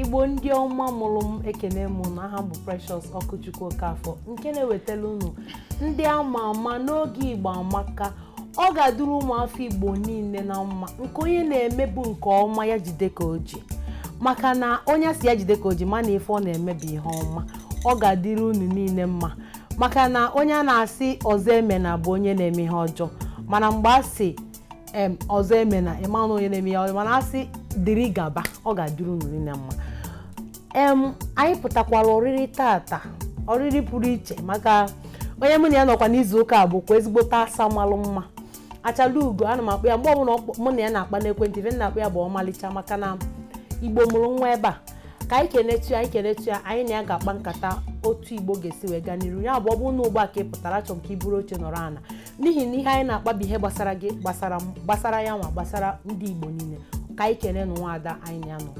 igbo ndị ọma mụrụ m ekene m unu aha m bụ Precious Ọkụchukwu Okafọ nke na-ewetara unu ndị ama ama n'oge igbo amaka ọ ga-adịrị ụmụafọ igbo niile na mma nke onye na-eme bụ nke ọma ya jide ka o ji maka na onye a sị ya jide ka o ji ma na ife ọ na-eme bụ ihe ọma ọ ga-adịrị unu niile mma maka na onye a na-asị ọzọ emena bụ onye na-eme ihe ọjọọ mana mgbe a sị em ọzọ emena ị ma na onye na-eme ihe ọjọọ mana a sị dịrị gaba ọ ga-adịrị unu niile mma em anyị pụtakwara oriri tata oriri pụrụ iche maka onye mụ na ya nọkwa n'izu ụka a bụkwa ezigbote asa malụ mma achala ugo ana m akpọ ya mgbe ọbụla ọkpọ- mụ na ya na-akpa n'ekwentị ife m na-akpọ ya bụ ọmalịcha maka na igbo mụrụ nwa ebe a ka anyị kenetu ya anyị kenetu ya anyị na ya ga-akpa nkata otu igbo ga-esi wee gaa n'iru ya bụ ọ bụrụ na ugbu a ka ị pụtara achọrọ m ka i buru oche nọrọ ana n'ihi na ihe anyị na-akpa bụ ihe gbasara gị gbasara m gbasara ya nwa gbasara ndị igbo niile ka anyị kene nụ nwaada anyị na ya nọ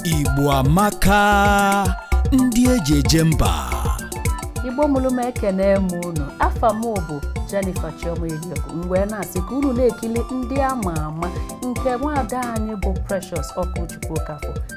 Igbo amaka ndị e ji eje mba igbo mụrụ m ekene m unu afa m bụ Jennifer Chioma Eliogu m wee na-asị ka unu na-ekili ndị ama ama nke nwaada anyị bụ Precious Ọkụchukwu Okafor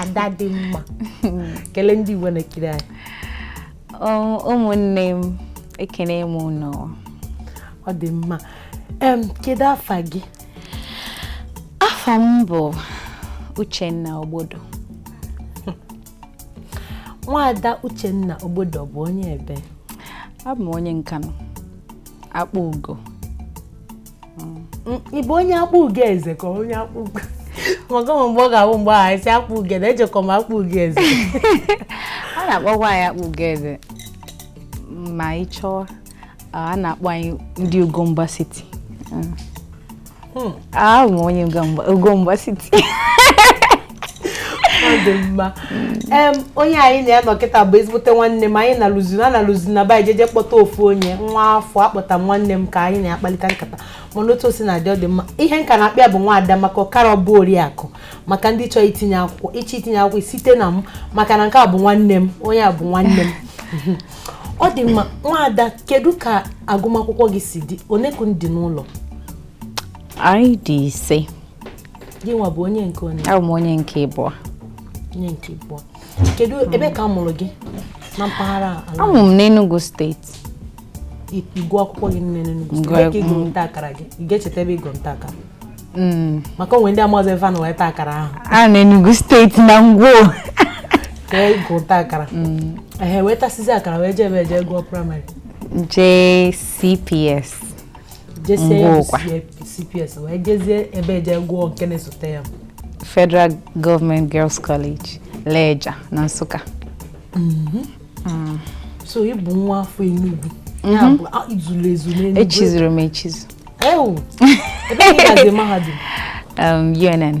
ada dị mma kelee ndị Igbo na-ekiri anyị ụmụnne m ekene m ụnụ ọ dị mma kedu afa gị afa m bụ Uchenna Ogbodo nwaada Uchenna Ogbodo bụ onye ebe abụ m onye Nkanu Akpugo ị bụ onye Akpugoeze ka onye Akpugo maka ụmụ mgbe ọ ga-abụ mgbe ahụ esi Akpugo na ejekọ m Akpugoeze a na-akpọkwa anyị Akpugoeze ma ị chọọ a na-akpọ anyị ndị Ugomba City hmm. abụ m onye Ugomba City ọ dị mma em onye anyị na ya nọ kịta bụ ezigbote nwanne m anyị na-alụzi na na-alụzi na be anyị jeje kpọta ofu onye nwa afọ akpọta m nwanne m ka anyị na ya kpalite nkata mana otu o si na-adị ọ dị mma ihe m ka na-akpọ ya bụ nwaada maka ọ karọ abụ oriakụ maka ndị chọrọ itinye akwụkwọ ị chọọ itinye akwụkwọ site na m maka na nke a bụ nwanne m onye a bụ nwanne m ọ dị mma nwaada kedu ka agụmakwụkwọ gị si dị one ka unu dị n'ụlọ anyị dị ise gị nwa bụ onye nke onye abụ m onye nke ịbụọ onye nke ịbụọ kedu ebe ka a mụrụ gị na mpaghara ala a mụ m n'Enugu steeti ịgụ akwụkwọ gị nne n'Enugu Gụọ- steeti ka ị gụrụ nta akara gị ị ga-echeta ebe ị gụrụ nta akara Mm, maka o nwe ndị amazi ebe ha nọ wee taa akara ahụ a n'Enugu steeti na Ngwo ka ị gụ nta akara ehe wee tasizi akara wee jee ebee je gụọ praịmarị jee CPS jesie ya bụ Ngwo kwa. CPS wee jezie ebee je gụọ nke na-esote ya Federal Government Girls College Lejja na Nsụka so ị bụ nwa afọ Enugu ya bụ a- i zuru ezu n'Enugu echizuru m echizu ewu ebee ka ị gazi mahadum um, UNN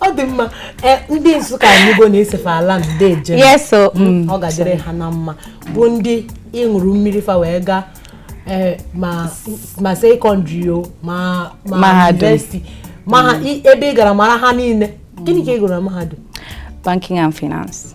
ọ dị mma e, ndị Nsụka anyị ga na-asị fa ala ndeje yes o mm. mm, ọ ga-adịrị ha na mma bụ ndị ị ṅụrụ mmiri fa wee gaa e, ma ma sekọndịrị o ma ma Mahadum. yunivesiti ma ha i- ebe ị gara mara ha niile gịnị ka ị gụrụ na mahadum banking and finance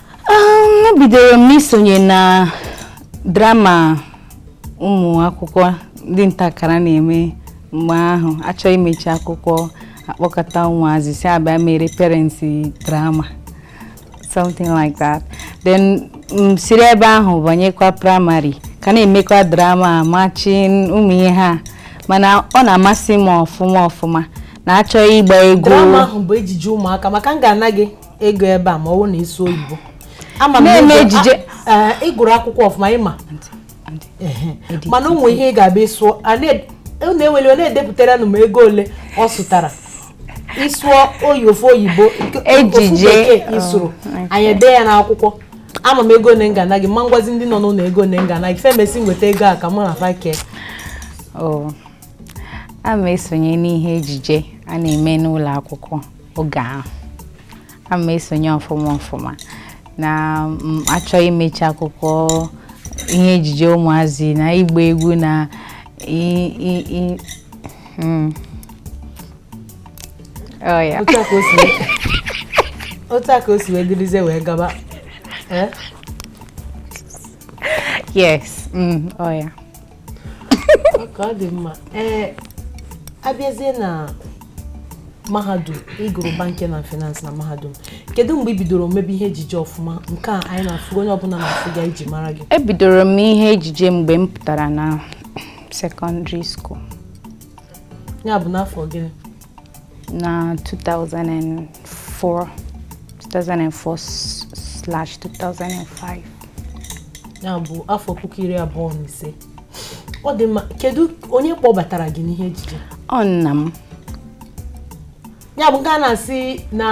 ebidoro m n'isonye na drama ụmụ akwụkwọ ndị nta akara na-eme mgbe ahụ a chọọ imechi akwụkwọ a kpọkọta ụmụazị sị ha bịa mere parents drama something like that then m siri ebe ahụ banyekwa praịmarị ka na-emekwa drama marching ụmụ ihe ha mana ọ na-amasị m ọfụma ọfụma na a chọọ ịgba egwu drama ahụ bụ ejije ụmụaka maka m ga-ana gị ego ebe a ma ọ bụ na ị sụọ oyibo ama m na-eme ejije ị gụrụ akwụkwọ ọfụma ị ma mana o nwere ihe ị ga-abịa sụọ na-eweli ọ na-edepụtara nụ m ego ole ọ sụtara ị sụọ oyi ofu oyibo ejije ị sụrụ oh, anyị ede ya n'akwụkwọ ama m ego ole m ga-ana gị ma m gwazi ndị nọ n'ụlọ ego ole m ga-ana gị e mesi weta ego a ka mụ na fa kee oh, ana m esonye n'ihe ejije a na-eme n'ụlọ akwụkwọ oge ahụ ana m esonye ọfụma ọfụma na a chọọ imechi akwụkwọ ihe ejije ụmụazị na ịgba egwu na i- i- i- mm. Oh, yeah. otu a ka o si wee- otu a ka o si wee dịrịzie wee gaba Eh? yes mm, oh, yeah. okay ọ dị mma ee eh, a bịazie na mahadum ị gụrụ banking na finance na mahadum kedu mgbe ị bidoro mebe ihe ejije ọfụma nke a anyị na-afụ onye ọbụla na-afụga e ji mara gị ebidoro m ihe ejije mgbe m pụtara na sekọndịrị skuul ya bụ n'afọ gịnị na 2004 2004/2005 ya bụ afọ puku iri abụọ na ise ọ dị mma kedu onye kpọbatara gị n'ihe ejije ọ nna m ya bụ nke a na-asị na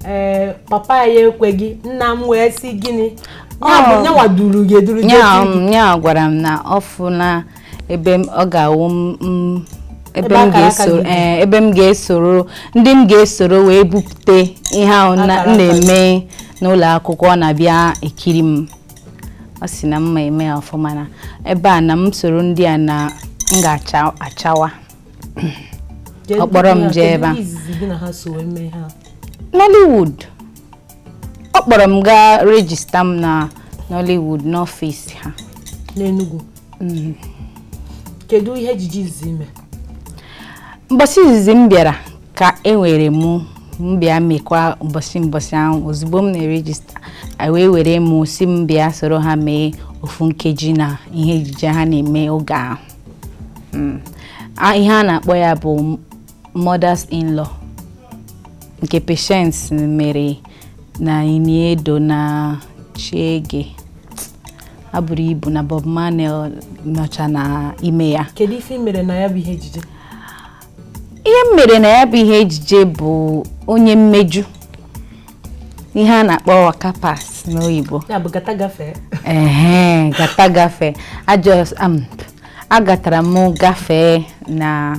ee papa ya ekweghị nna m wee sị gịnị ya bụ Ọ- nyanwa duru gị eduru gị ya etu gị. m- ya gwara m na ọ fụna ebe ọ ga-awụ m ebe m ga-esoro eh, ebe m ga-esoro ndị m ga-esoro wee bupute ihe ahụ m na-eme n'ụlọ akwụkwọ ọ na-abịa ekiri m ọ sị na m ma eme ya ọfụma na ebe a na m soro ndị a na m ga-achawa ọ kpọrọ m jee ebe a Nollywood ọ kpọrọ m gaa rejista m na Nollywood n'ọfịs ha n'Enugu mm. kedu ihe ejije izizi i me mbọsị izizi m bịara ka e were mụ m bịa mekwa mbọsị mbọsị ahụ ozugbo m na-erejista wee were m sị m bịa soro ha mee ofu nkeji na ihe ejije ha na-eme oge ahụ mm. ihe a na-akpọ ya bụ mothers in law nke Patience mere na Ini Edo na Chiege a buru ibu na Bob Manuel nọcha na ime ya kedu ife i mere na ya bụ ihe ejije ihe m mere na ya bụ ihe ejije bụ onye mmeju ihe a na-akpọ waka pass n'oyibo gata gafee ee gata gafee agatara m gafee na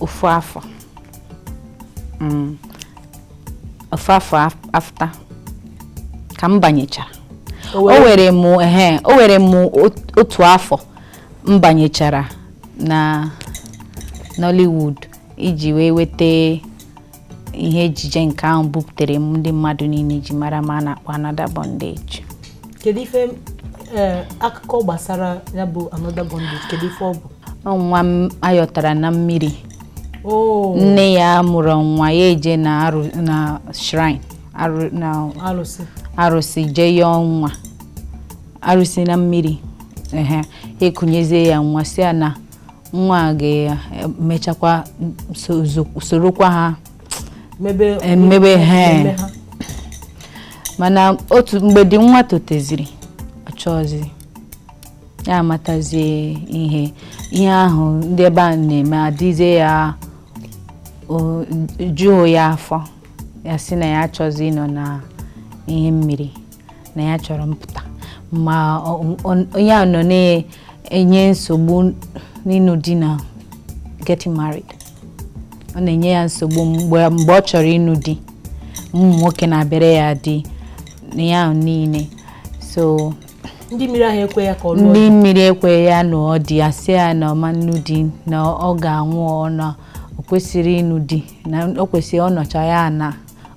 ofu afọ mm. ofu afọ after ka m banyechara o were m o were m otu afọ m banyechara na Nollywood iji wee weta ihe ejije nke ahụ buputere m ndị mmadụ niile ji mara m a na-akpọ Another Bondage kedu ife eh, akụkọ gbasara ya bụ Another Bondage kedu ife ọ bụ Ọ nwa a yọtara na mmiri oo nne ya amụrọ nwa ya eje na arụ- na shrine arụ- na alụsị arụsị jee yọọ nwa arụsị na mmiri ehe e kunyezie ya nwa sị ya na nwa a ga-emechakwa so- zo- sorokwa ha mebe Emebe ha. eme ha. mana otu mgbe dị nwa toteziri ọ chọzị ya amatazie ihe ihe ahụ ndị ebe a na-eme adịzie ya o juhu ya afọ ya sị na ya achọzị ịnọ na ihe mmiri na ya chọrọ mpụta ma onye a nọ na-enye nsogbu n'ịnụ di na getting married ọ na-enye ya nsogbu mgbe ọ chọrọ ịnụ di ụmụ nwoke na-abịara ya di na ya niile so ndị mmiri ahụ ekwe ya ka ọ ndị mmiri ekwe ya nụọ di a sị ya na ọ ma nụ di na ọ ga-anwụ ọ na o kwesịrị ịnụ di na o kwesịrị ọ nọcha ya na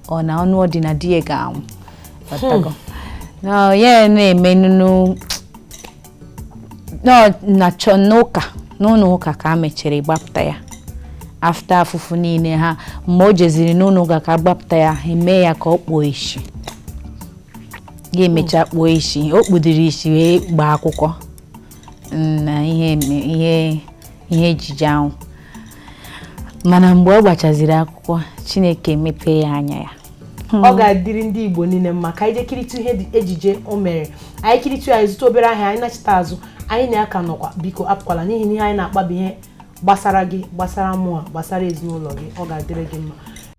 ọ na ọ nụọ di na di ya ga-anwụ Ọtago. Na ya na-eme nunu na na chọ n'ụka n'ụlọ ụka ka a mechiri gbapụta ya after afụfụ niile ha mgbe o jeziri n'ụlọ ụka ka gbapụta ya ha eme ya ka ọ kpuo isi ya emecha kpuo isi o kpudiri isi wee gbaa akwụkwọ na ihe eme- ihe ihe ejije ahụ mana mgbe ọ gbachaziri akwụkwọ chineke mepee ya anya ya ọ ga-adịrị ndị igbo niile mma ka anyị jee kiritụ ihe dị- ejije o mere anyị kiritụ ya anyị zụta obere ahịa anyị nachita azụ anyị na ya ka nọkwa biko apụkwala n'ihi na ihe anyị na-akpa bụ ihe gbasara gị gbasara mụa gbasara ezinụlọ gị ọ ga-adịrị gị mma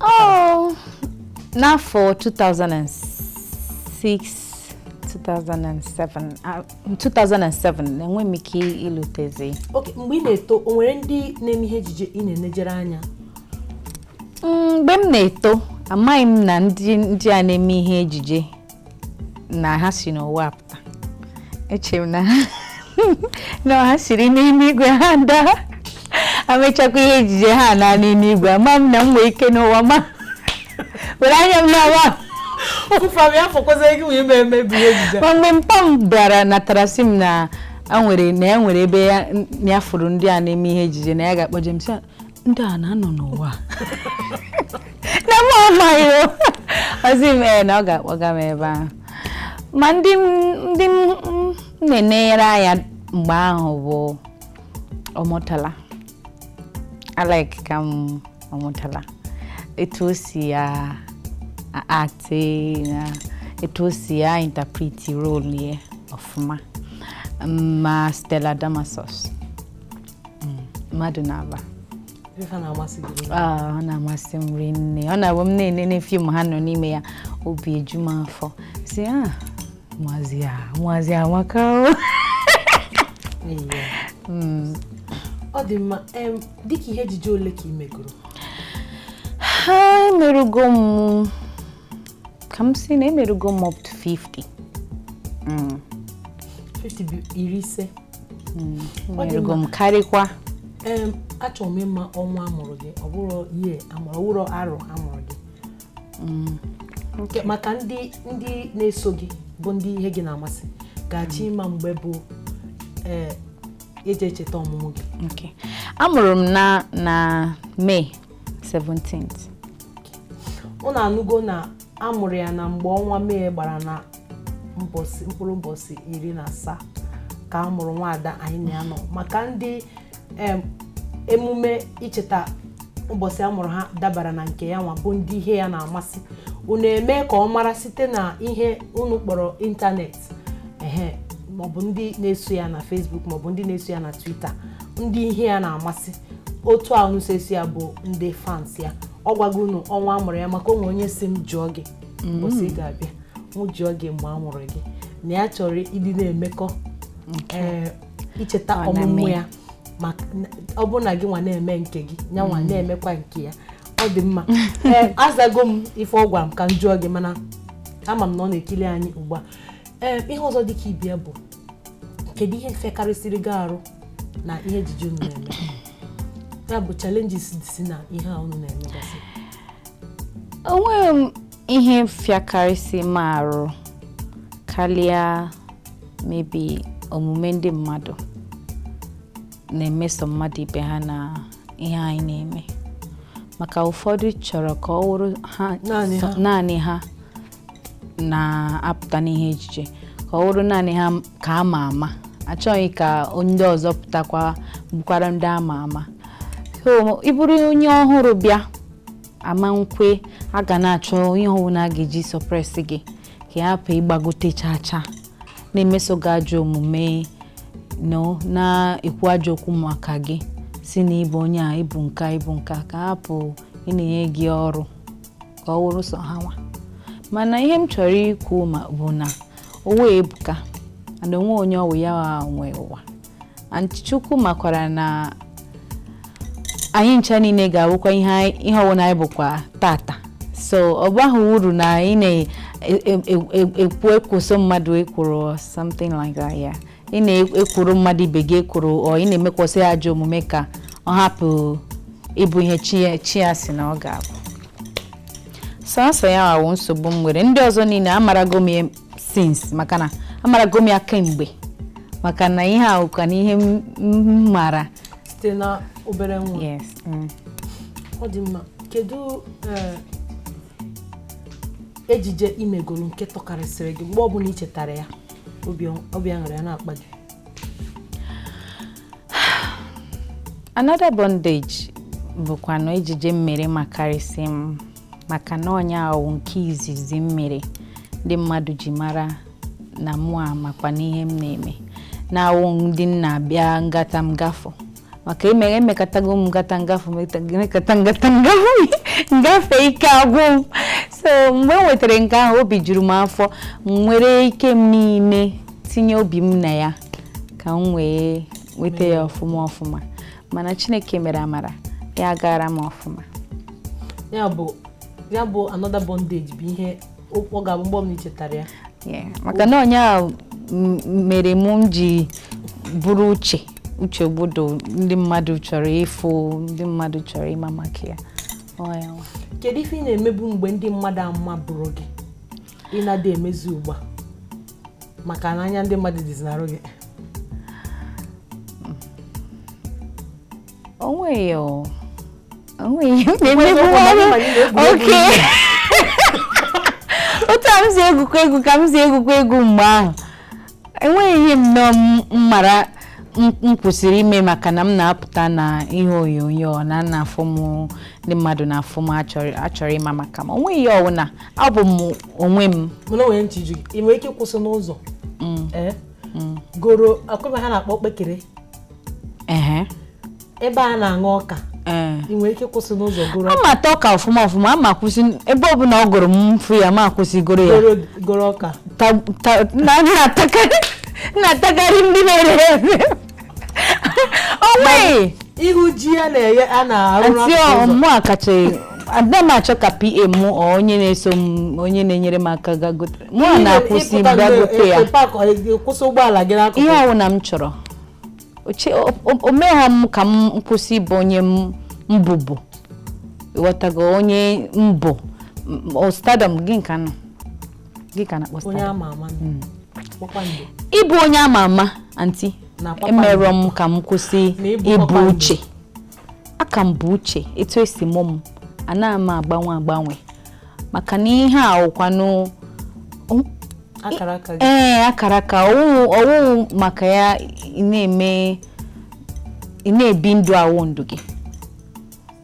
Oh, n'afọ 2006 2007 ah, 2007 enwe m ike ilutezi okay mgbe ị na-eto o nwere ndị na-eme ihe ejije ị na-enejere anya Mm, mgbe m na-eto amaghị m na ndị ndị a na-eme ihe ejije na ha si n'ụwa apụta echere m na na ha siri n'ime igwe ha daa a mechakwa ihe ejije ha naa n'ime igwe ama m na m nwee ike n'ụwa ma were anya m n'ọwa ma mgbe mpa m bịara natara sị m na enwere na enwere ebe ya fụrụ ndị a na-eme ihe ejije na ya ga-akpọje m ndị a na-anọ n'ụwa na mụ amaghị o. ọ sị m ee na ọ ga-akpọga m ebe ahụ ma ndị m- ndị m m na-enenyere anya mgbe ahụ bụ Omotola alike ka m Omotola etu o si ya act na etu o si ya interpret role ya ọfụma ma Stella Damasus hmm, mmadụ naabọ a na-amasị m rinne ọ na-abụ m na-enene fim ha nọ n'ime ya obi eju m afọ sị a ah, ụmụazị a ụmụazị amaka hmm. ọ dị mma dịka ihe ejije ole ka ị megoro ha emerugo m ka m si na emerugo m up to 50 mm. 50 bụ iri ise mm. emerugo m karịkwa achọrọ m ịma ọnwa amụrụ gị ọ bụrụ ihe amụrụ ọwụrụ arọ amụrụ gị mm. maka ndị ndị na-eso gị bụ ndị ihe gị na-amasị ga-achọ ịma mgbe bụ ee eji echeta ọmụmụ gị amụrụ m na na May 17th unu anụgo na amụrụ ya na mgbe ọnwa May gbara na mkpụrụ ụbọchị iri na asaa ka a mụrụ nwaada anyị na ya nọ maka ndị emume icheta ụbọchị a mụrụ ha dabara na nke ya nwa bụ ndị ihe ya na-amasị unu eme ka ọ mara site na ihe unu kpọrọ ịntanetị ehe maọbụ ndị na-eso ya na Facebook maọbụ ndị na-eso ya na Twitter ndị ihe ya na-amasị otu a unu si eso ya bụ ndị fans ya ọ gwago unu ọnwa amụrụ ya maka o nwe onye si m jụọ gị mbọsị ị ga-abịa mụ jụọ gị mgbe a mụrụ gị na ya chọrọ ịdị na-emekọ ee, icheta Ọ na-eme. ọmụmụ ya maka ọ bụrụ na gị nwa na-eme nke gị ya nwa na-emekwa nke ya ọ dị mma ee azago m ife ọ gwara m ka m jụọ gị mana ama m na ọ na-ekili anyị ugbu a ee ihe ọzọ dị ka ibe ya bụ kedu ihe fịakarịsịrị gị arụ na ihe ejije unu na-eme ya bụ challenges si na ihe a unu na-emegasị onweghị m ihe fịakarịsị m arụ karịa maybe omume ndị mmadụ na-emeso mmadụ ibe ha na ihe anyị na-eme maka ụfọdụ chọrọ ka ọ wụrụ ha Naanị ha. naanị ha na-apụta n'ihe ejije ka ọ wụrụ naanị ha ka a ma ama achọghị ka ndị ọzọ pụtakwa bụkwara ndị a ma ama so ị bụrụ onye ọhụrụ bịa ama nkwe a ga na-achọ ihe ọwụna a ga-eji suppress gị ka ị hapụ ịgbagote cha cha na-emeso gị ajọ omume no na-ekwu ajọ okwu maka gị si na ị bụ onye a ị bụ nke a ị bụ nke a ka a hapụ ị na-enye gị ọrụ ka ọ wụrụ sọ ha nwa mana ihe m chọrọ ikwu bụ na ụwa ebuka and o nwe onye ọ wụ ya nwe ụwa and Chukwu makwara na anyị ncha niile ga-awụkwa ihe anyị- ihe ọwụna anyị bụkwa tata so ọ bahụ uru na ị na-ekwoso mmadụ ekworo or something like that ya ị na-ekworo mmadụ ibe gị ekworo or ị na-emekwasị ya ajọ omume ka ọ hapụ ịbụ ihe chi ya- chi ya si na ọ ga-abụ sọsọ ya wụ nsogbu m nwere ndị ọzọ niile amarago m ya since maka na amarago m ya kemgbe maka na ihe ahụ ka na ihe m m maara site na obere nwa yes mm. ọ dị mma kedu eh, ejije i megoro nke tọkarịsịrị gị mgbe ọbụla i chetara ya obi obi aṅụrị ya na-akpa gị another bondage bụkwanụ ejije m mere makarịsị m maka na ọ nya wụ nke izizi m mere ndị mmadụ ji mara na mụ a makwa n'ihe m na-eme na awụ ndị m na-abịa ngata m gafụ maka emere emekatago m ngata ngafụ emekata ngata ngafụ ngafe ike agwụ m so mgbe m nwetara nke ahụ obi juru m afọ m were ike m niile tinye obi m na ya ka m wee weta ya ọfụma ọfụma mana chineke mere amara ya gaara m ọfụma ya bụ ya bụ another bondage bụ ihe ọ ga-abụ mgbe ọbụla i chetara ya Yeah, maka na ọ nya m- mere mụ m ji bụrụ uche uche Ogbodo ndị mmadụ chọrọ ịfụ ndị mmadụ chọrọ ịma maka ya Ọ ya nwa. kedu ife ị na-emebu mgbe ndị mmadụ amabụrọ gị ị na-adị emezi ugbu a maka na anya ndị mmadụ dịzi n'arụ gị onweghị o onweghị okay otu a m si egwukwa egwu ka m si egwukwa egwu mgbe ahụ enweghị ihe m nọ m mara m m kwụsịrị ime maka na m na-apụta na ihe onyonyo na na-afụ m ndị mmadụ na-afụ m achọrọ achọrọ ịma maka m onweghị ihe ọwụna abụ m onwe m mana o nwere ntị ju gị ị nwere ike ịkwụsị n'ụzọ ee goro akwụkwọ ha na-akpọ okpekere ehe ebe a na-aṅụ ọka ee ị nwere ike kwụsị n'ụzọ goro a m ata ọka ọfụma ọfụma a m akwụsị ebe ọbụla ọ gụrụ m m fụ ya m akwụsị goro ya goro goro ọka Ta- ta- na a na-atakarị na-atakarị ndị na-ere ere onweghị ihu ji ya na-eye a na-arụ anti n'akụkụ ụzọ ọ mụ a kacha ada m achọ ka PA mụ ọ onye na-eso m onye na-enyere m aka ga gote mụ a na-akwụsị Ịpụta bịa mgbe- gote ya ịpakọ- ị- kwụsị ụgbọala gị n'akụkụ ihe ọwụna m chọrọ o merọ m ka m kwụsị ịbụ onye m bụbu ị ghọtago onye m bụ stardom gịnị ka nọ gịnị ka a na-akpọ stardom hmm. ịbụ onye ama ama anti emerọ m ka m kwụsị ịbụ uche a ka m bụ uche etu e si mụ m anaghị m agbanwe agbanwe maka na ihe a wụkwanụ ee akaraka ọ wụ maka ya na-eme ị na-ebi ndụ awụ ndụ gị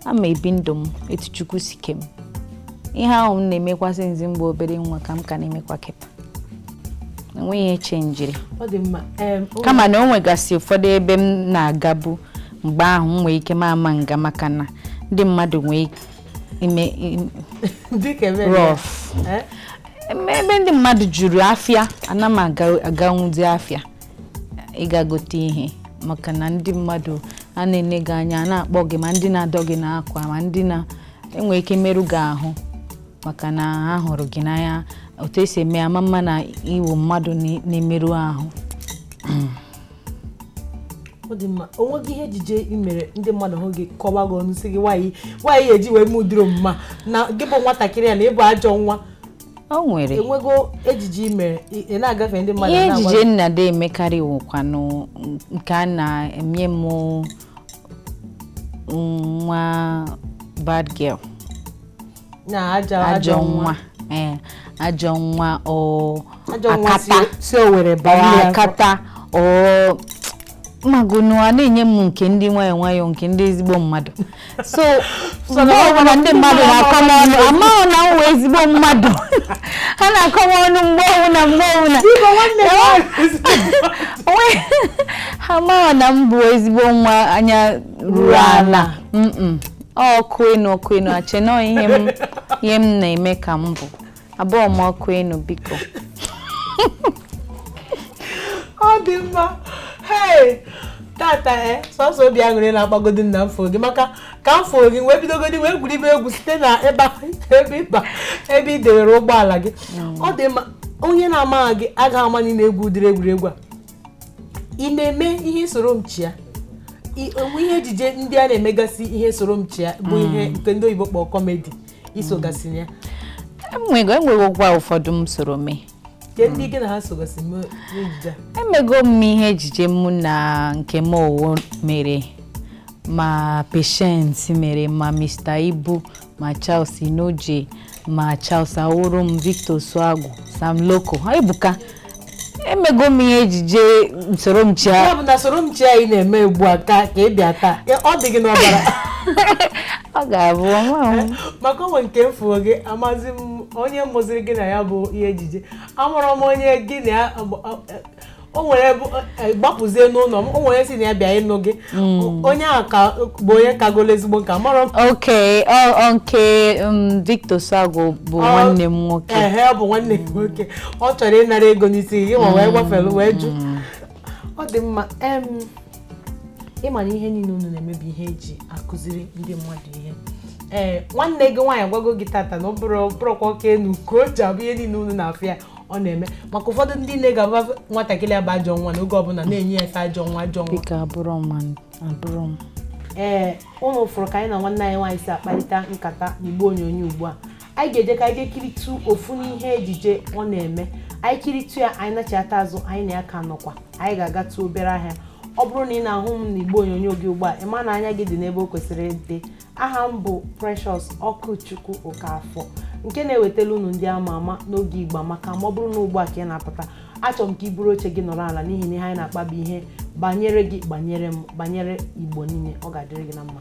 ana m ebi ndụ m etu Chukwu si ke m ihe ahụ m na-emekwasị nzi mgbe obere nwa ka m ka na-emekwa kịta o nweghị ihe chenjiri kama na o nwegasị ụfọdụ ebe m na-agabu mgbe ahụ m nwee ike m ama aga maka na ndị mmadụ nwee ime im- dịka ebe rough Eh? Eme- ebe ndị mmadụ juru afịa ana m aga- aganwuzi afịa ịga gote ihe maka na ndị mmadụ a na-ene gị anya a na-akpọ gị ma ndị na-adọ gị n'akwa ma ndị na enwere ike merụ gị ahụ maka na ha hụrụ gị n'anya otu e si eme ama ama na ị wụ mmadụ na- na-emerụ ahụ ọ dị mma o nweghị ihe ejije i mere ndị mmadụ hụ gị kọwa gị ọnụ sị gị nwaanyị nwaanyị eji wee mee ụdịrị omume na gị bụ nwatakịrị a na ị bụ ajọ nwa o nwere enwego ejije i mere ị na-agafe ndị mmadụ ihe ejije m na-adị emekarị wụkwanụ nke a na-enye m nwa bad girl na ajọ ajọ nwa ee ajọ nwa o ajọ nwa si akata si owere baa nne ya akata ị magonu a na-enye m nke ndị nwayọọ nwayọọ nke ndị ezigbo mmadụ so So mgbe na- ọbụla ndị mmadụ na-akọ m ọnụ amaghị na m wụ ezigbo mmadụ ha na-akọ m ọnụ mgbe ọbụla mgbe ọbụla Biko, nwanne m nwaanyị. Onwe- ha amaghị na m bụ ezigbo nwa anya ruru ala Mm-mm. ọkụ enu ọkụ enu ha che na ọ ihe m ihe m na-eme ka m bụ abụrọ m ọkụ enu biko ọ dị mma hei tata e eh, sọsọ obi aṅụrị na-akpagodi m na m fụ gị maka ka m fụrụ gị wee bidogodi wee gwuribe egwu site na ebe ịba ebe ị dewere ụgbọala gị mm. ọ dị mma onye na-amaghị gị agaghị ama na ị na-egwu ụdịrị egwuregwu a ị na-eme ihe soro m chịa I- o nwe ihe ejije ndị a na-emegasị ihe soro m chịa bụ ihe nke ndị oyibo kpọrọ kọmedi i sogasị na ya enwego enwegokwa ụfọdụ m soro mee kee ndị gị na ha sogasị mee n'ejije a emego m ihe ejije mụ na Nkem Owoh mere ma Patience mere ma Mr. Ibu ma Charles Inojie ma Charles Awurum Victor Osuagwu Sam Loco ha ebuka emego m ihe ejije soro m chịa ya bụ na soro m chịa ị na-eme ugbu a ka ka ị bịa taa ya- ọ dị gị n'ọbara ọ ga-abụ ọnwa m maka o nwe nke m fụrụ gị amazi m onye mụziri gị na ya bụ ihe ejije amụrụ m onye gị na ya agba- a- a- o nwere bụ eh, gbapụzie n'ụlọ m o nwere sị na ya bịa ịnụ gị O- onye ahụ ka bụ onye kagolo ezigbo nka mara m ok ọ ọ nke um, Victor Osuagwu bụ Ọ- nwanne m nwoke ehe ọ bụ nwanne m nwoke ọ chọrọ ịnara ego n'isi gị ma wee gbafelu wee jụ ọ dị mma em ị ma na ihe niile unu na-eme bụ ihe e ji akụziri ndị mmadụ ihe ee nwanne gị nwaanyị gwago gị tata na ọ bụrụ bụrụkwa oke enu ka o ji abụ ihe niile unu na-afụ ya ọ na-eme maka ụfọdụ ndị nne ga-aba nwatakịrị afa ajọ nwa n'oge ọbụla na-enye ya afa ajọ nwa ajọ nwa biko abụrọ m abụrọ m ee unu fụrụ ka anyị na nwanne anyị nwaanyị si akparịta nkata n'igbe onyonyo ugbu a anyị ga-eje ka anyị jee kiritụ ofu n'ihe ejije ọ na-eme anyị kiritụ ya anyị nachata azụ anyị na ya ka nọkwa anyị ga-agatụ obere ahịa ọ bụrụ na ị na-ahụ m n'igbe onyonyo gị ugbu a ị ma na anya gị dị n'ebe o kwesịrị ịdị aha m bụ Precious Okwuchukwu Okafọ nke na-ewetala unu ndị ama ama n'oge Igbo amaka ma ọ bụrụ na ugbu a ka ị na-apụta achọrọ m ka i buru oche gị nọrọ ala n'ihi na ihe anyị na-akpa bụ ihe banyere gị banyere m banyere Igbo niile ọ ga-adịrị gị na mma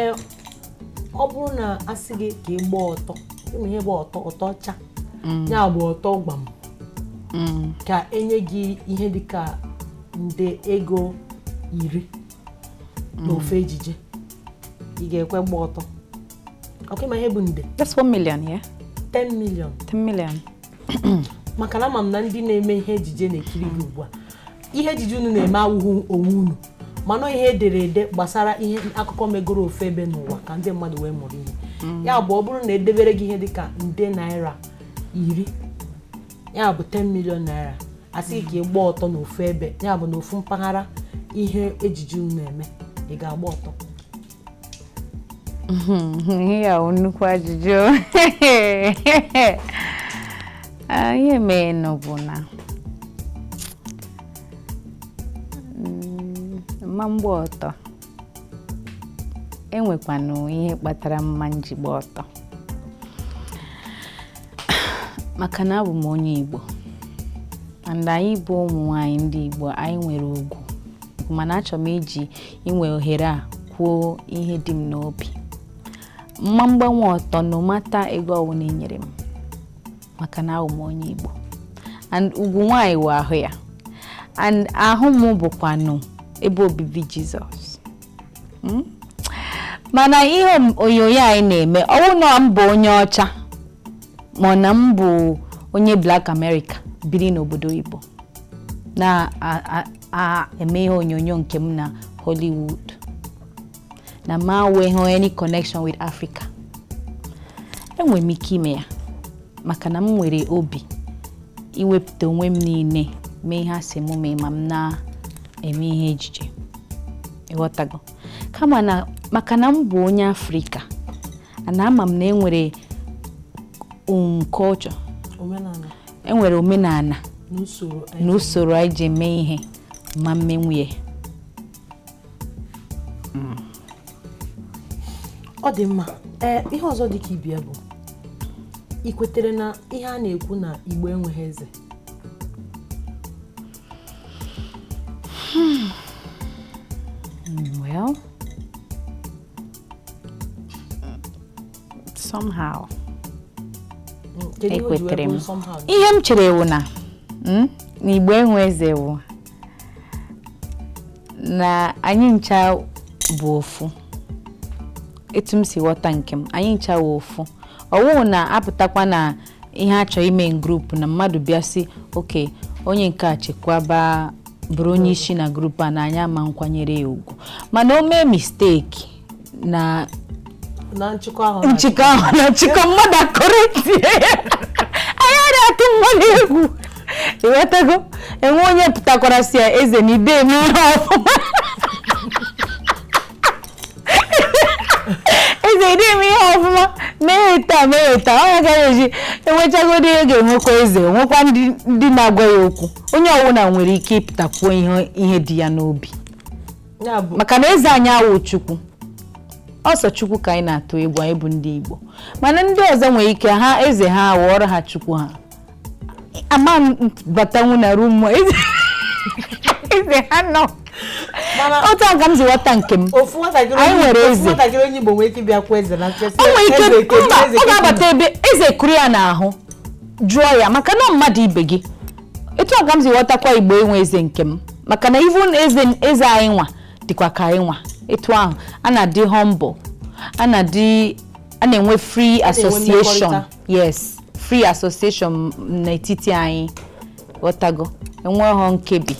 ee ọ bụrụ na a sị gị ka ị gbaa ọtọ ị ma ihe bụ ọtọ ọtọ ọcha ya bụ ọtọ gbam ka e nye gị ihe dịka nde ego iri n'ofu mm. ejije ị ga-ekwe gba ọtọ ọkwa ị ma ihe bụ nde that's 1 million yeah 10 million 10 million maka na ama m na ndị na-eme ihe ejije na-ekiri gị ugbu a ihe ejije unu na-eme awụhụ onwe unu mana ihe e dere ede gbasara ihe akụkọ megoro ofu ebe n'ụwa ka ndị mmadụ wee mụrụ ihe mm. ya bụ ọ bụrụ na e debere gị ihe dịka nde naira iri ya bụ 10 million naira a sị ka ị gba ọtọ n'ofu ebe ya bụ n'ofu mpaghara ihe ejije unu eme ị ga-agba ọtọ ihe ya bụ nnukwu ajụjụ Ah, ihe meenụ bụ na mm, mma m gba ọtọ e nwekwanụ ihe kpatara mma m ji gba ọtọ maka na abụ m onye Igbo and anyị bụ ụmụ nwanyị ndị Igbo anyị nwere ugwu mana achọrọ m iji inwe ohere a kwuo ihe dị m n'obi mma m gbanwu ọtọ no matter ego ọwụna e nyere m maka na awụ m onye Igbo and ugwu nwaanyị wụ ahụ ya and ahụ m bụkwanụ ebe obibi Jizọs hmm? mana ihe onyonyo anyị na-eme ọ wụ na m bụ onye ọcha ma na m bụ onye Black America biri n'obodo oyibo na-eme ihe onyonyo nke m na Hollywood na m enweghị any connection with Africa enwere m ike ime ya maka na m nwere obi iwepụta onwe m niile mee ihe a sị m mee ma m na-eme ihe ejije ị ghọtago kama na maka na m bụ onye Afrịka na ama m na e nwere um, culture e nwere omenala na usoro anyị ji eme ihe m ma emenwu ya hmm. ọ dị mma ee ihe ọzọ dị ka ibe ya bụ i kwetere na ihe a na-ekwu na Igbo enweghị eze hmm. well somehow ekwetere m ihe m chere wụ na hmm, na Igbo enwe eze wụ na anyị ncha bụ ofu etu m si ghọta nke m anyị ncha bụ ofu ọ wụhụ na a pụtakwa na ihe a chọrọ ime group na mmadụ bịa sị okay onye nke a chekwaba bụrụ onye isi na group a na anyị ama nkwanyere ya ugwu mana o mee mistake na na nchịkọ ahụ nchịkọ ahụ na nchịkọ mmadụ a-correctie anyị adịghị atụ mmadụ egwu ị ghọtago e nwee onye pụtakwara sị ya eze na i de eme ihe ọfụma eze i de eme ihe ọfụma mee taa mee taa ọ gaghị eji enwechagodi ihe ga-enwekwa eze nwekwa ndị ndị na-agwa ya okwu onye ọ wụna nwere ike ịpụta kwuo ihe ihe dị ya n'obi maka na eze anyị awụ Chukwu ọ sọ Chukwu ka anyị na-atụ egwu anyị bụ ndị Igbo mana ndị ọzọ nwere ike ha eze ha ghọọrọ ha chukwu ha ama batanwu na room eze ha nọ otu a ka m si ghọta nke m anyị nwere eze o nwere ike ọ ga-abata ebe eze kuru ya n'ahụ jụọ ya maka na ọ mmadụ ibe gị etu a ka m si ghọtakwa igbo enwe eze nke m maka na even eze eze anyị nwa dịkwa ka anyị nwa etu ahụ a na-adị humble and a na-enwe free association mmekọrịta. yes free association n'etiti anyị ghọtago enweghọ nkebi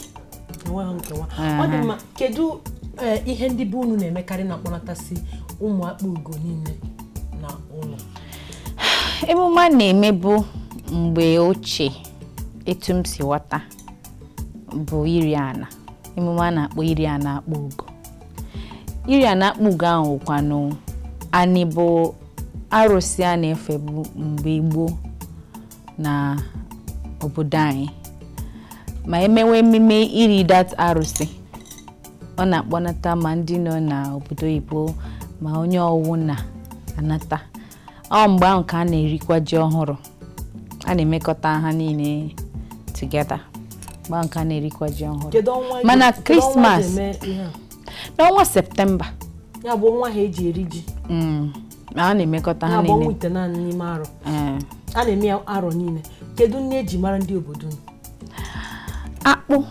enweghị nkewa Aha. ọ dị mma kedu eh, ihe ndị be unu na-emekarị na-akpọnatasị ụmụ akpugo niile na ụlọ emume a na-emebu mgbe ochie etu m si ghọta bụ iri ana emume a na-akpọ iri ana akpugo iri ana akpugo ahụ kwanụ anị bụ arụsị a na-efebu mgbe gboo na obodo anyị ma e mewe emume iri that arụsị ọ na-akpọnata ma ndị nọ n'obodo oyibo ma onye ọwụna anata ọ mgbe ahụ ka a na-erikwa ji ọhụrụ a na-emekọta ha niile together mgbe ahụ ka a na-erikwa ji ọhụrụ mana christmas n'ọnwa september ya bụ ọnwa ha eji eri ji mm, a na-emekọta ha niile eh. a na-eme arọ niile kedu nri e ji mara ndị obodo akpụ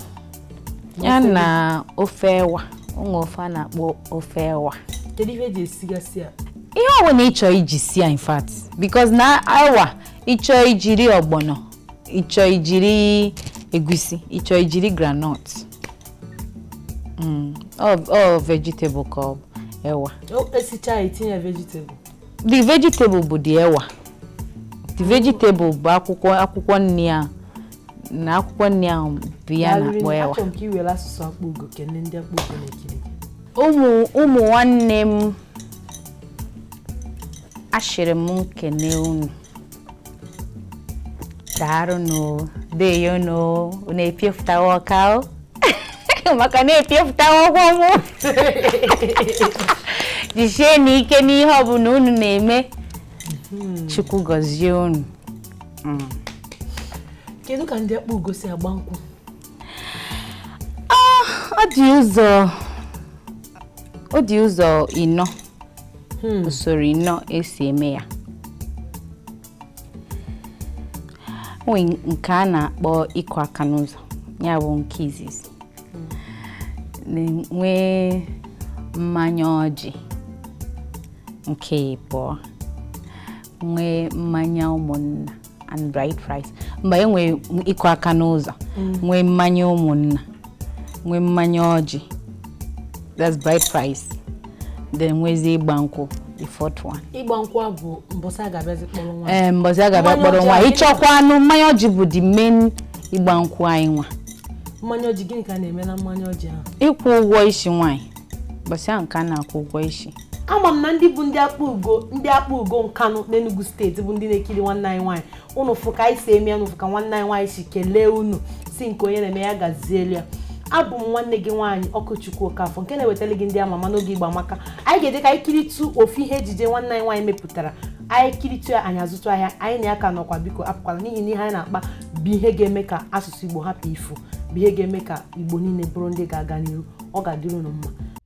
ya na ofe ewa o nwe ofe a na-akpọ ofe ewa kedu ihe e ji esigasị ya ihe ọbụla ị chọ iji si ya in fact because na ewa ị chọọ i jiri ọgbọnọ ị chọọ i jiri egusi ị chọọ i jiri groundnut mm, all vegetable ka ọ bụ ewa e sichaa e tinye vegetable the vegetable bụ the ewa the vegetable bụ akwụkwọ akwụkwọ nri a na akwụkwọ nri ahụ bụ ihe a na-akpọ ewa ụmụ nwanne m ashịrị m nkene unu daarụnụ deyonụ unu epiefutawa ọka maka na-epiefutawa ọgwọ m jisienụ ike n'ihe ọbụla unu na-eme hmm. chukwu gọzie unu mm. kedu ka ndị akpugo si agba nkwụ ah, ọ dị ụzọ ọ dị ụzọ ịnọ hmm. usoro ịnọ e si eme ya o nwe nke a na-akpọ ịkụ aka n'ụzọ ya bụ nke izizi nwee mmanya ọjị nke ịbụọ nwee mmanya ụmụnna and bride price mba e nwee ịkụ aka n'ụzọ mm. nwee mmanya ụmụnna nwee mmanya ọjị that's bride price then nwezie ịgba nkwụ the fourth one. ịgba nkwụ a bụ mbọsị a ga-abịa kpọrọ nwa. ee eh, mbọsị a ga-abịa kpọrọ nwa ị chọkwanụ mmanya ọjị bụ the main ịgba nkwụ anyị nwa. mmanya ọjị gịnị ka a na-eme na mmanya ọjị ahụ. ịkwụ ụgwọ isi nwaanyị mbọsị ahụ ka a na-akwụ ụgwọ isi. ama m na ndị bụ ndị Akpugo ndị Akpugo Nkanụ n'enugu steeti bụ ndị na-ekiri nwanne anyị nwaanyị unu fụ ka anyị si eme ya unu fụ ka nwanne anyị nwaanyị si kelee unu sị nke onye na-eme ya gazielu ya abụ m nwanne gị nwaanyị Okwuchukwu Okafọ nke na-ewetara gị ndị ama ama n'oge Igbo amaka anyị ga-eje ka anyị kiritu ofu ihe ejije nwanne anyị nwaanyị mepụtara anyị kiritu ya anyị azụtụ ahịa anyị na ya ka nọkwa biko apụkwala n'ihi na ihe anyị na-akpa bụ ihe ga-eme ka asụsụ igbo hapụ ifu bụ ihe ga-eme ka igbo niile bụrụ ndị ga-aga n'ihu ọ ga-adịrị unu mma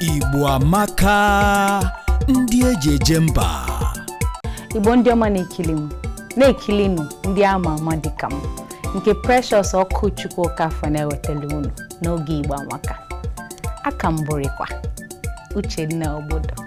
Igbo amaka ndị eji eje mba igbo ndị ọma na-ekili m na-ekilinụ ndị ama ama dịka m nke Precious Okwuchukwu Okafọ na-ewetara unu n'oge igbo amaka aka m bụrịkwa Uchenna Ogbodo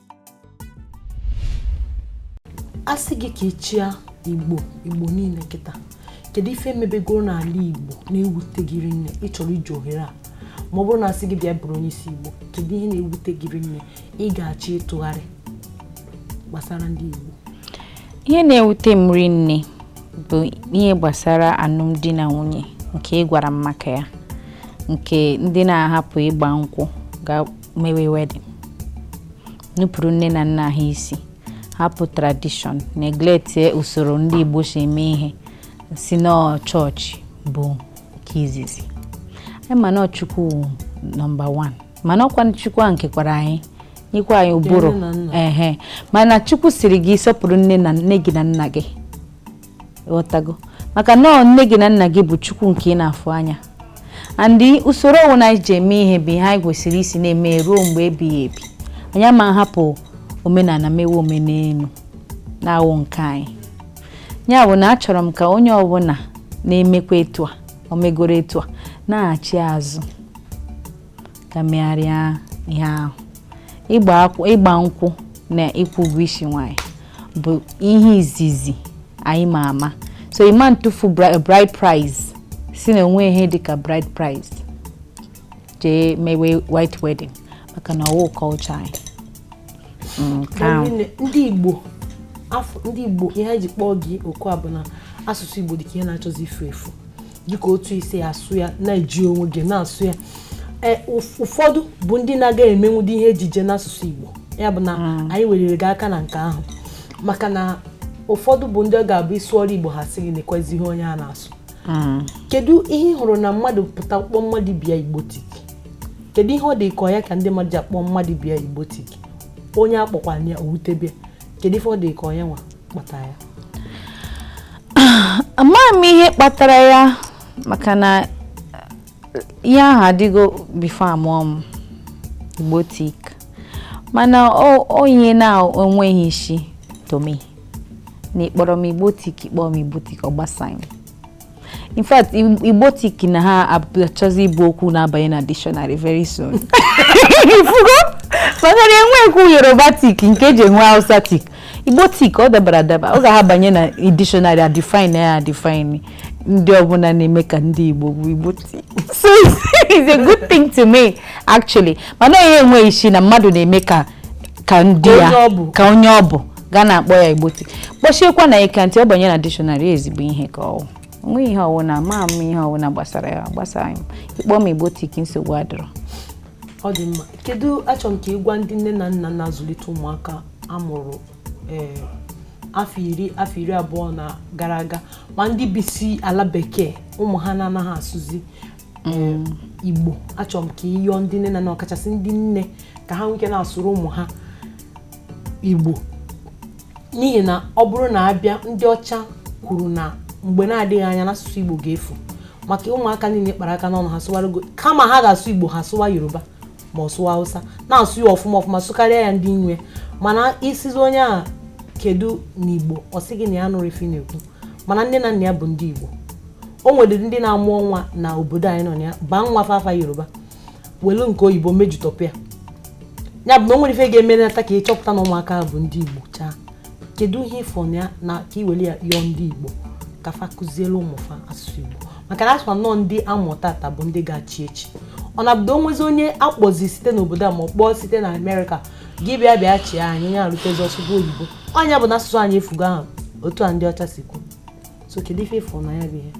a sị gị ka ị chịa igbo igbo niile kịta kedu ife mebigoro n'ala igbo na-ewute gị rinne ị chọrọ iji ohere a ma ọ bụrụ na a sị gị bịa bụrụ onye isi igbo kedu ihe na-ewute gị rinne ị ga-achọ ịtụgharị gbasara ndị igbo ihe na-ewute m rinne bụ ihe gbasara alụmdi na nwunye nke ị gwara m maka ya nke ndị na-ahapụ ịgba nkwụ mewe wedding nupụrụ nne na nna ha isi hapụ tradition neglectie usoro ndị Igbo si eme ihe sị na chọọchị bụ nke izizi anyị ma na Chukwu nọmba 1 mana ọkwa Chukwu a kekwara anyị nyekwa anyị ụbụrụ ehe mana Chukwu sịrị gị sọpụrụ nne na nne gị na nna gị ghọtago maka na nne gị na nna gị bụ chukwu nke ị na-afụ anya and usoro ọwụna anyị ji eme ihe bụ ihe anyị kwesịrị isi na-eme ruo mgbe ebighị ebi anyị ama nhapụ omenala mewe omenelu na-awụ nke anyị ya bụ na achọrọ m ka onye ọbụla na-emekwa etu a o megoro etu a nachi azụ ga megharịa ihe ahụ ịgba nkwụ na ịkwụ ụgwọ isi nwanyị bụ ihe izizi anyị ma ama so ị ma ntụfu bride price sị na o nwe ihe dịka bride price jee mewe white wedding maka na ọwụ culture anyị mm, ndị Igbo afọ ndị Igbo ihe anyị ji kpọọ gị oku a bụ na asụsụ Igbo dị ka ihe na-achọzi ifu efu dịka otu i si asụ ya na-eji onwe gị na-asụ ya e, ụfọdụ bụ ndị na-aga emenwudi ihe ejije n'asụsụ Igbo ya bụ na hmm. anyị weliri gị aka na nke ahụ maka na ụfọdụ bụ ndị ọ ga-abụ ị sụọrọ Igbo ha sị gị nekwezi ihe onye a na-asụ hmm. kedu ihe ị hụrụ na mmadụ pụta kpọọ mmadụ bịa Igbotic kedu ihe ọ dị ka ya ka ndị mmadụ ji akpọ mmadụ bịa Igbotic onye a kpọkwa ya o wutebe ya kedu ife ọ dị ka ọ ya nwa amaghị m ihe kpatara ya maka na ihe ahụ adịgo before a mụọ m igbotic mana ọ ihe na-enweghị isi to me na ị kpọrọ m igbotic ị kpọọ m igbotic ọ gbasaghị m in fact igbotic na ha achọzi ịbụ okwu na-abanye na dictionary very soon ị fụgo maka na enwekwu yorubatic nke e ji enwe hausatic igbotic ọ dabara adaba ọ ga-ha banye na dictionary a define ya a define ndị ọbụla na-eme ka ndị igbo bụ igbotic so it's a good thing to me actually mana ọ ihe enweghị isi na mmadụ na-eme ka ka ndị ya ka onye ọ bụ ga na-akpọ ya igbotic kpọsiekwa ya ike until ọ banye na dictionary ezigbo ihe ka ọ wụ o nweghị ihe ọwụna ama m ihe ọwụna gbasara ya gbasara m ị kpọọ m igbotic nsogbu adịrọ ọ dị mma kedu achọrọ m ka ị gwa ndị nne na nna na-azụlite ụmụaka a mụrụ eh, afọ iri afọ iri abụọ na gara aga ma ndị bisi ala bekee ụmụ ha na-anaghị asụzi eh, mm. igbo achọrọ m ka ị yọọ ndị nne na nna ọkachasị ndị nne ka ha nwee ike na-asụrụ ụmụ ha igbo n'ihi na ọ bụrụ na a bịa ndị ọcha kwuru na mgbe na-adịghị anya na asụsụ igbo ga-efu maka ụmụaka niile kpara aka n'ọnụ ha sụwara oyibo kama ha ga-asụ igbo ha sụwa yoruba ma ọ sụwa hausa na-asụ ya ọfụma ọfụma sụkarịa ya ndị nwe mana ị sịzi onye ahụ kedu n'igbo ọ sị gị na ya anụrọ ife ị na-ekwu mana nne na nna ya bụ ndị igbo o nwedịrị ndị na-amụ nwa na obodo anyị nọ na ya baa nwa fa afa yoruba welu nke oyibo mejutọpụ ya ya bụ na o nwerọ ife ga-emenata ka ị chọpụta na ụmụaka ahụ bụ ndị igbo chaa kedu ihe ị fụ na ya na ka i were ya yọọ ndị igbo ka fa kụziere ụmụfa asụsụ igbo maka na a sị na ọ ndị a mụ tata bụ ndị ga-achị echi ọ na-abụdo o nwezi onye a kpọzi site n'obodo a ma ọ kpọọ site na amerịka gị bịa bịa chịa anyị ya erutezi ọ sụgo oyibo ọ nya bụ na asụsụ anyị efugo ahụ otu a ndị ọcha si kwu so kedu ife ị fụ na ya bụ ihe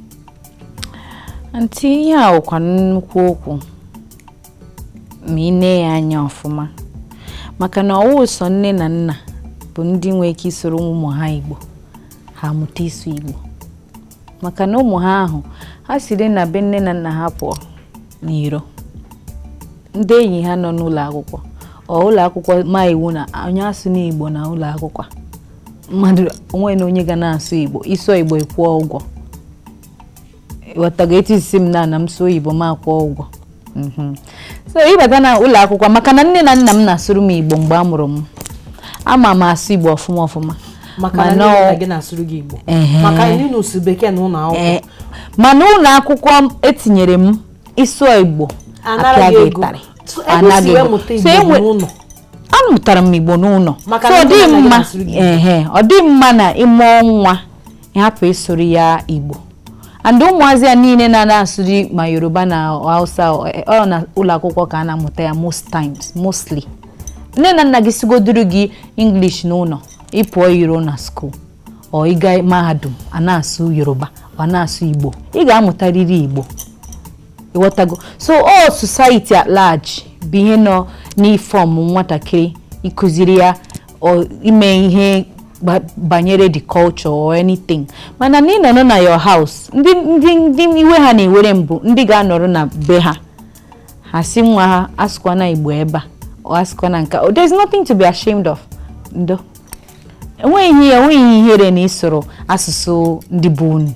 aunty ihe a wụkwa nnukwu okwu ma ị nee ya anya ọfụma maka na ọ wụ sọ nne na nna bụ ndị nwee ike ịsụrụ ụmụ ha igbo ha mụta ịsụ igbo maka na ụmụ ha ahụ ha siri na be nne na nna ha pụọ n'iro ndị enyi ha nọ n'ụlọ akwụkwọ ọ ụlọ akwụkwọ ma iwu na onye asụna igbo na ụlọ akwụkwọ mmadụ o nwena onye ga na-asụ igbo ịsụọ igbo ịkwụọ ụgwọ ghọtago etu isi m na na m sụọ igbo m akwụọ ụgwọ mhm. so ịbata na ụlọ akwụkwọ maka na nne na nna m na-asụrụ m igbo mgbe a mụrụ m ama m asụ igbo ọfụma ọfụma maka na nne gị na-asụrụ gị Igbo maka ịnụ si bekee na ụlọ akwụkwọ eh, mana ụlọ akwụkwọ etinyere m ịsụọ Igbo apịa gị ịtarị anaghị so amụtara m igbo n'ụlọ Maka so na ọ ndị dịghị nna gị mma na-asụrụ gị ehe ọ dị mma na ịmụọ nwa ịhapụ ịsụrụ ya igbo and ụmụazị a niile na na-asụrụ ma yoruba na hausa ọ ọ na ụlọ akwụkwọ ka a na-amụta ya most times mostly nne na nna gị sụgoduru gị english n'ụlọ ịpụọ iro na school or ịga mahadum a na-asụ yoruba a na-asụ igbo ị ga-amụtarịrị igbo ịghọtago so ọ society at large bụ ihe na-inform nwatakịrị ịkụziri ya ime ihe banyere the culture or anything mana na ịnọrọ na your house ndị ndị ndị iwe ha na-ewere m bụ ndị ga-anọrọ na be ha ha si nwa ha asụkwana igbo ebe a ọ asụkwana nka oh, there's nothing to be ashamed of ndo enweghị ihe enweghị ihere na ịsụrụ asụsụ ndị be unu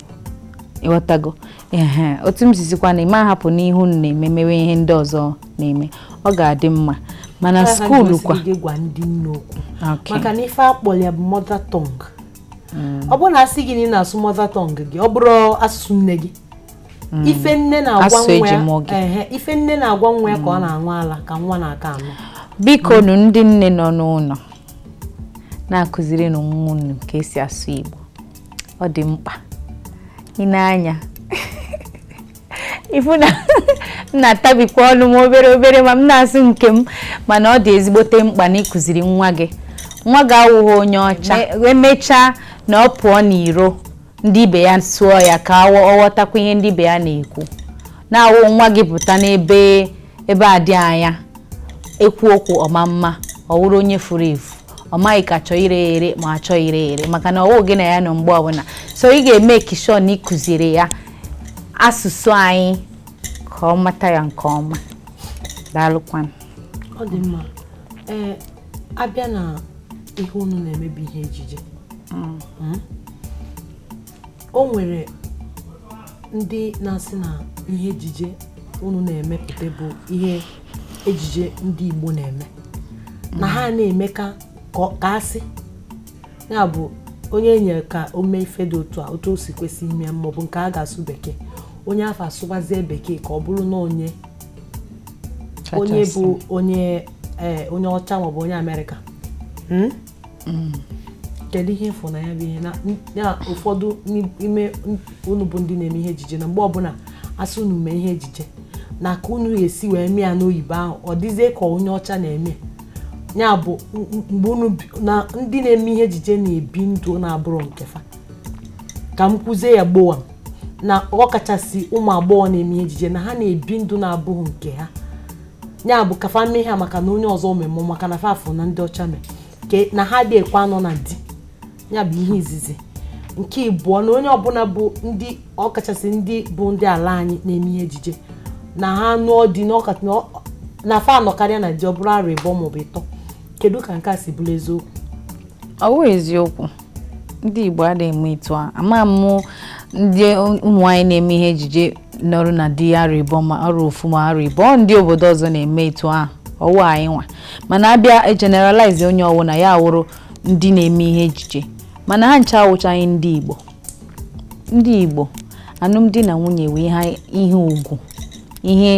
ịghọtago ee otu m sizikwa na ịma ahapụ ihe unu na-eme mewe ihe ndị ọzọ na-eme ọ ga-adị mma mana skuulu kwa maka na ife akpọrọ ya bụ mother tongue hmm. ọ bụrụ na asị gị na ị na-asụ mother tongue gị ọ bụrụ asụsụ nne gị Mm. ife nne na-agwa nwa ya ka ọ mm. na-aṅụ ala ka nwa na-aka anụ biko nụ ndị nne nọ n'ụlọ na-akụziri nụ nwa unu ka esi asụ Igbo ọ dị mkpa ị nee anya ịfụ na m na-atabikwa ọnụ m obere obere ma m na-asụ nke m mana ọ dị ezigbote mkpa na ịkụziri nwa gị nwa gị awụghị onye ọcha emechaa na ọ pụọ n'iro ndị ibe ya sụọ ya ka ọ ghọtakwa ihe ndị ibe ya na-ekwu na-awụ nwa gị pụta n'ebe ebe a dị anya ekwu okwu ọ ma ama ọ wụrụ onye furu efu ọ maghị ka achọ ire ere ma achọ ire ere maka na ọwụ gị na ya nọ mgbe ọbụla so ị ga-make sure na ịkụziri ya asụsụ anyị ka ọ mata ya nke ọma daalụkwanụ ọ dị mma ee abịa na ihe unu na-eme bụ ihe ejije mm. Hmm? o nwere ndị na-asị na ihe ejije unu na-emepụta bụ ihe ejije ndị Igbo na-eme na ha na-eme ka a ga-asị ya bụ onye enyere ka o mee ife dị otu a otu o si kwesị ime maọbụ nke a ga-asụ bekee onye afụ asụbazie bekee ka ọ bụrụ na onye onye bụ onye ee onye ọcha maọbụ onye amerịka hmm? Hmm. kedu ihe ị fụ na ya bụ ihe na ụfọdụ n'ime unu bụ ndị na-eme ihe ejije na mgbe ọbụla a sị unu mee ihe ejije na ka unu esi wee mee ya n'oyibo ahụ ọ dịzie ka onye ọcha na-eme ya bụ mgbe unu na ndị na-eme ihe ejije na-ebi ndụ na-abụrọ nke fa ka m kwuzie ya gbowa na ọ kachasị ụmụ agbọghọ na-eme ihe ejije na ha na-ebi ndụ na-abụghị nke ha ya bụ ka fa mee ha maka na onye ọzọ omemụ maka na fa fụ na ndị ọcha mee na ha adị ekwe anọ na di ya bụ ihe izizi nke ịbụọ na onye ọbụla bụ ndị ọkachasị ndị bụ ndị ala anyị na-eme ihe ejije na ha nụọ di na fa anọkarịa na di ọ bụrụ arọ ịbụọ maọbụ ịtọ kedu ka nke a si bụrụ eziokwu ọ wụ eziokwu ndị Igbo adịghị eme etu a ama m ndị ụmụ anyị na-eme ihe ejije nọrọ na di arọ ịbọ ma arọ ofu ma arọ ịbọ ndị obodo ọzọ na-eme etu a ọwụ anyị nwa mana a bịa generalize onye ọwụna ya awụrụ ndị na-eme ihe ejije mana ha ncha awụchaghị ndị Igbo ndị Igbo alụmdi na nwunye wụ ihe ugwu ihe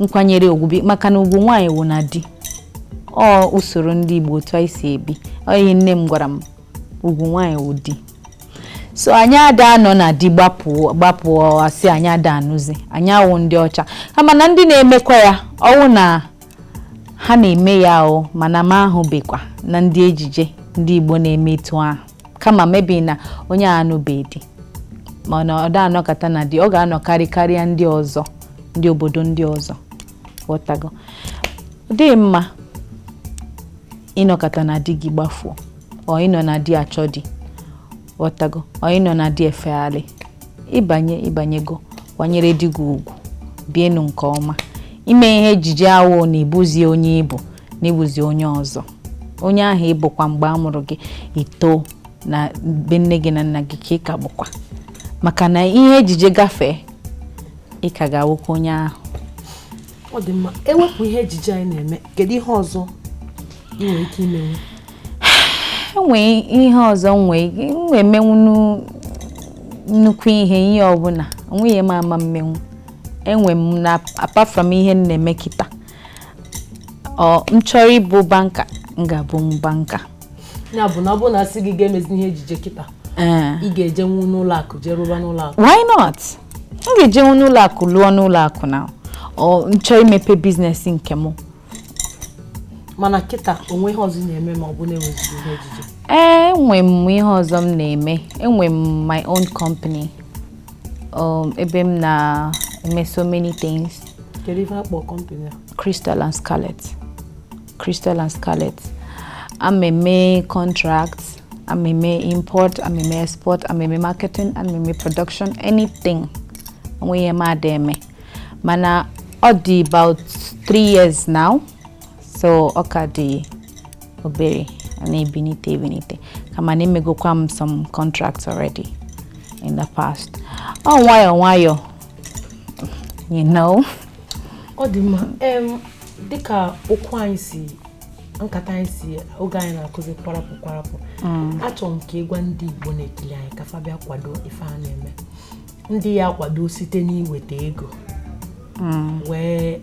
nkwanyere ugwu bi maka na ugwu nwaanyị wụ na di ọ usoro ndị Igbo otu anyị si ebi ọ ihe nne m gwara m ugwu nwaanyị wụ di so anyị ada anọ na di gbapụ asị anyị ada anụzi anyị awụ ndị ọcha kama na ndị na-emekwa ya ọwụ na ha na-eme ya o mana m ahụbekwa na ndị ejije ndị Igbo na-eme etu ahụ kama maybe na onye a anụbe di mana ọ da anọkata na di ọ ga-anọkarị karịa ndị ọzọ ndị obodo ndị ọzọ ghọtago ọ dịghị mma ịnọkata na di gị gbafuo or ịnọ na di achọ di ghọtago or ịnọ na di efegharị ị banye ị banyego kwanyere di gị ugwu bienu nke ọma ime ihe ejije awụ na ị bụzi onye ị bụ na ị bụzi onye ọzọ onye ahụ ị bụkwa mgbe a mụrụ gị i too na be nne gị na nna gị ka ị ka bụkwa maka na ihe ejije gafee ị ka ga-awụkwa onye ahụ ọ dị mma e wepụ ihe ejije anyị na-eme kedu ihe ọzọ ị nwere ike imenwu enwee ihe ọzọ nwee emenwu nnukwu ihe ihe ọbụla o nweghị ihe m ama mmenwu enwe m na apart from ihe m na-eme kịta ọ m chọrọ ịbụ banker m ga-abụ banker ya bụ na ọ bụrụ na a sị gị ga-emezi ihe ejije kịta ee ị ga-ejenwu n'ụlọ akụ jee rụba n'ụlọ akụ why not m ga-ejenwu n'ụlọ akụ lụọ n'ụlọ akụ na ọ m chọọ imepe business nke m mana kịta o nwe ihe ọzọ ị na-eme ma ọ bụ na e nwezighị ihe ejije ee enwe m ihe ọzọ m na-eme enwe m my own company um, ebe m na-eme so many things kedu ife akpọ company a Crystal and Scarlet Crystal and Scarlet a m eme contract a m eme import a m eme export a m eme marketing a m eme production anything o nwe ihe m ada eme mana ọ dị about three years now so ọ ka dị obere na-ebinite ebinite kama na emegokwa m some contracts already in the past ọ nwayọọ nwayọọ you know ọ dị mma dịka okwu anyị si nkata anyị si oge anyị na-akụzi kwarapụ kwarapụ mm. achọrọ m ka ị gwa ndị Igbo na-ekili anyị ka fa bịa kwado ife a na-eme ndị ya-akwado site n'iweta ego mm. wee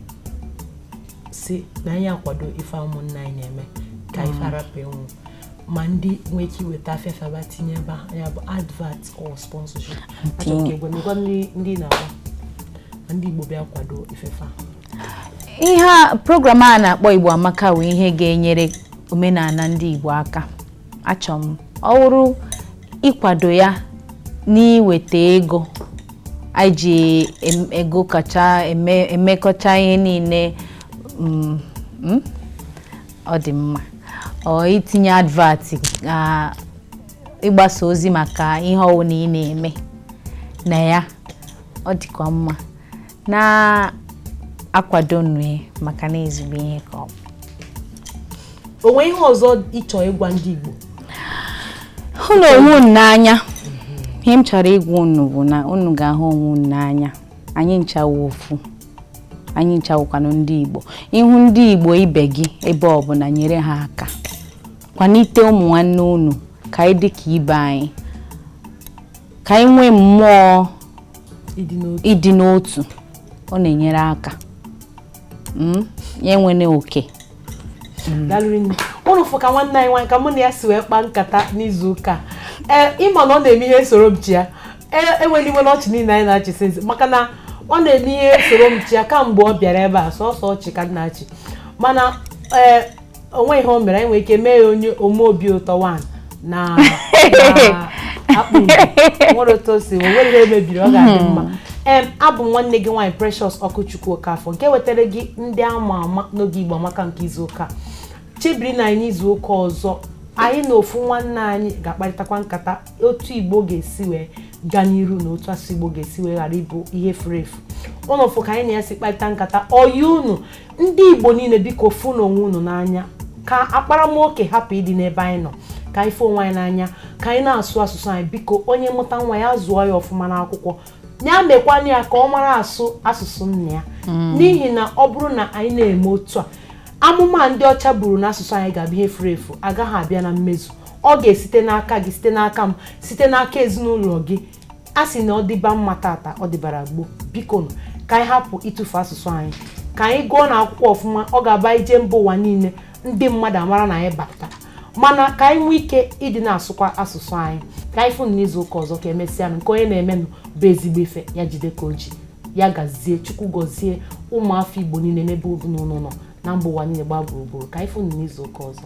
si na anyị akwado ife ụmụnna anyị na-eme ka ife mm. a rapụ ịnwụ ma ndị nwee ike iweta afịa fa bịa tinye ebe a ya bụ advert or sponsorship achọrọ ka ị gwa m agwa ndị na-agba ma ndị Igbo bịa kwado ife ife a ihe a program a na-akpọ Igbo Amaka wụ ihe ga-enyere omenala ndị Igbo aka achọ m ọ wụrụ ịkwado ya n'iweta ego anyị ji em- ego ka e ji eme emekọcha ihe niile mm, mm, ọ dị mma or itinye advert ah, ịgbasa ozi maka ihe ọwụna ị na-eme na ya ọ dịkwa mma na-akwadonụ ya maka na ezigbo ihe ka ọ bụ o nwe ihe ọzọ ị chọ ịgwa ndị Igbo hụnụ onwe unu n'anya ihe m chọrọ ịgwa unu bụ na unu ga-ahụ onwe unu n'anya anyị ncha wụ ofu anyị ncha wụkwanụ ndị Igbo ị hụ ndị Igbo ibe gị ebe ọ bụla nyere ha aka kwanite ụmụ nwanne unu ka anyị dị ka ibe anyị ka anyị nwee mmụọ ịdị n'otu ọ na-enyere aka hmm? ya enwene oke hmm. unu fụ ka nwanne anyị nwaanyị ka mụ na ya si wee kpaa nkata n'izu ụka ee ị ma na ọ na-eme ihe soro m chịa ewene iwe n'ọchị niile anyị na-achị since maka na ọ na-eme ihe soro m chịa kamgbe ọ bịara ebe a sọsọ ọchị ka m na-achị mana ee o nwe ihe o mere anyị nwere ike mee ya onye ome obi ụtọ wan na akpụ nwere otu o si nwere ihe mebiri ọ ga-adị mma hmm. em abụ m nwanne gị nwaanyị Precious Okwuchukwu Okafọ nke wetara gị ndị ama ama n'oge Igbo Amaka nke izu ụka chebirinụ anyị izu ụka ọzọ anyị na ofu nwanne anyị ga-akparịtakwa nkata otu Igbo ga-esi wee gaa n'iru na otu asụsụ Igbo ga-esi wee ghara ịbụ ihe furu efu unu fụ ka anyị na-esi akparịta nkata ọyị unu ndị igbo niile biko fụnụ onwe unu n'anya ka akparamoke hapụ ịdị n'ebe anyị nọ ka anyị fụ onwe anyị n'anya ka anyị na-asụ asụsụ anyị biko onye mụta nwa ya zụọ ya ọfụma n'akwụkwọ ya mekwanụ ya ka ọ mara asụ asụsụ nna ya mm. n'ihi na ọ bụrụ na anyị na-eme otu a amụma ndị ọcha buru na asụsụ anyị ga-abụ ihe furu efu agaghị abịa na mmezu ọ ga-esite n'aka gị site n'aka m site n'aka ezinụlọ gị a sị na ọ dịba mma tata ọ dịbara gboo bikonụ ka anyị hapụ ịtụfu asụsụ anyị ka anyị gụọnụ akwụkwọ ọfụma ọ ga-abụ anyị jee mba ụwa niile ndị mmadụ amara na anyị bata mana ka anyị nwee ike ịdị na-asụkwa asụsụ anyị ka anyị fụnụ n'izu ụka ọzọ ka emesịanụ nke onye na-emenụ bụ ezigbo ife ya jide ka o ji ya gazie chukwu gọzie ụmụafọ igbo niile n'ebe ọbụla unu nọ na mba ụwa niile gbaa gburugburu ka anyị fụnụ n'izu ụka ọzọ